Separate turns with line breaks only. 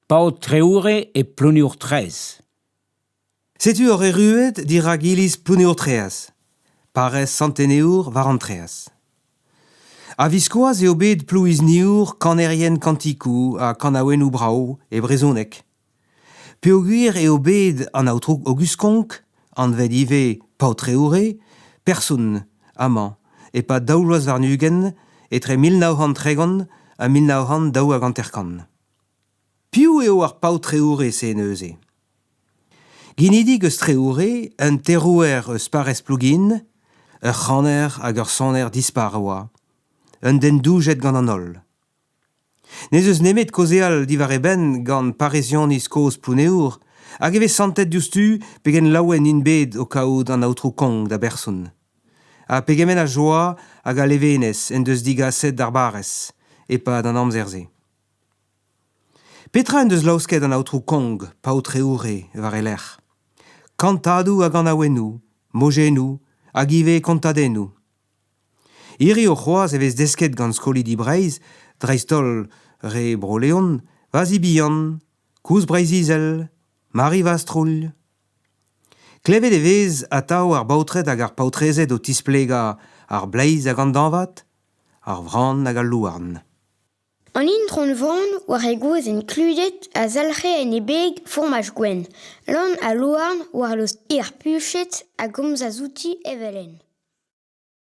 Paotr Treoure e Plouneour-Traezh. Setu ur erruet dirak iliz Plouneour-Treaz, parrez Sant-Enebour war an Treaz. A-viskoazh eo bet Plouizniour kanerien kantikoù ha kanaouennoù brav e brezhoneg. Peogwir eo bet an aotrou Aogust Konk, anvet ivez Paotr Treoure, person amañ e-pad daou vloaz warn-ugent, etre mil nav c'hant tregont ha mil nav c'hant daou hag hanter-kant. Piv eo ar paotreourez-se neuze? Ginidik eus Treoure, un terouer eus parrez Plougin, ur c'haner hag ur soner dispar e oa, un den doujet gant an holl. N'ez eus nemet kaozeal diwar e benn gant parrezioniz kozh Plouneour hag e vez santet diouzhtu pegen laouen int bet o kaout an aotrou Kong da berson, ha pegement a joa hag a levenez en deus digaset d'ar barrez e-pad an amzer-se. Petra en deus laosket an aotrou Kong, paotre Hourre, war e lerc'h ? Kantadoù a ganaouennoù, mojennoù hag ivez kontadennoù. Hiriv c'hoazh e vez desket gant skolidi Breizh, dreist-holl re Bro-Leon, Vazi Bihan, Koulz Breizh-Izel, Mari Vastrouilh. Klevet e vez atav ar baotred hag ar paotrezed o tisplegañ ar bleiz hag an dañvad, ar vran hag al louarn. An itron-vaon, war he gozh enkludet, a zalc'he en he beg fourmaj gwenn, lann ha louarn war lost hir puchet, a gomzas outi evel-henn.